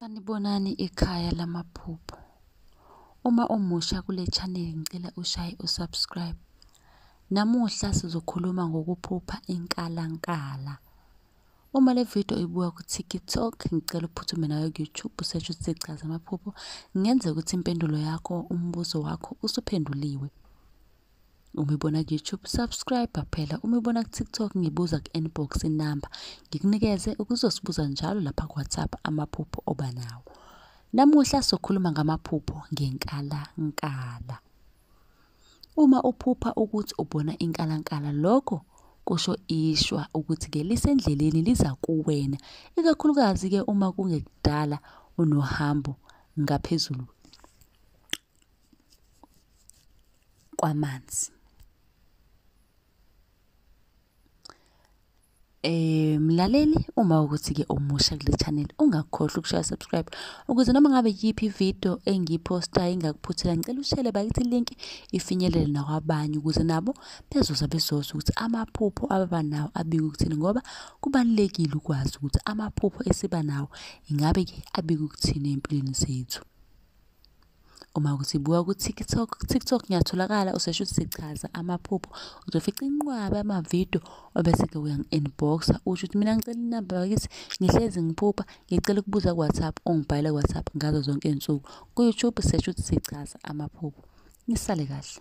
Sanibonani ikhaya lamaphupho. Uma umusha kule channel ngicela ushaye usubscribe. Namuhla sizokhuluma ngokuphupha inkalankala. Uma le video ibuka ku-TikTok ngicela uphuthume nayo ku-YouTube usearch ukuthi Chaza Amaphupho. Kungenzeka ukuthi impendulo yakho, umbuzo wakho usuphenduliwe. Uma ibona ku-YouTube subscribe phela, uma ibona ku-TikTok ngibuza ku-inbox inamba ngikunikeze ukuzosibuza njalo lapha ku-WhatsApp amaphupho oba nawo. Namuhla sokhuluma ngamaphupho ngenkalankala. Uma uphupha ukuthi ubona inkalankala lokho kusho ishwa ukuthi-ke lisendleleni liza kuwena, ikakhulukazi-ke uma kungekudala unohambo ngaphezulu kwamanzi eh mlaleli uma ukuthi ke omusha kule channel ungakhohlwa ukushaya subscribe ukuze noma ngabe yiphi video engiposta ingakuphuthela ngicela ushele bakithi link ifinyelele nakwabanye ukuze nabo bezoza bezoza ukuthi amaphupho ababa nawo abika ukuthini ngoba kubalekile ukwazi ukuthi amaphupho esiba nawo ingabe ke abika ukuthini empilweni zethu Uma ukuthi buka ku-TikTok, TikTok ngiyatholakala usesho ukuthi sichaza amaphupho. Uzofica inqwaba yamavidiyo obese-ke uyangi-inbox-a usho ukuthi mina ngicela inamba bakithi ngihlezi ngiphupha ngicela ukubuza ku-WhatsApp ungibhalele ku-WhatsApp ngazo zonke iy'nsuku. Ku-YouTube sesho ukuthi sichaza amaphupho. Nisale kahle.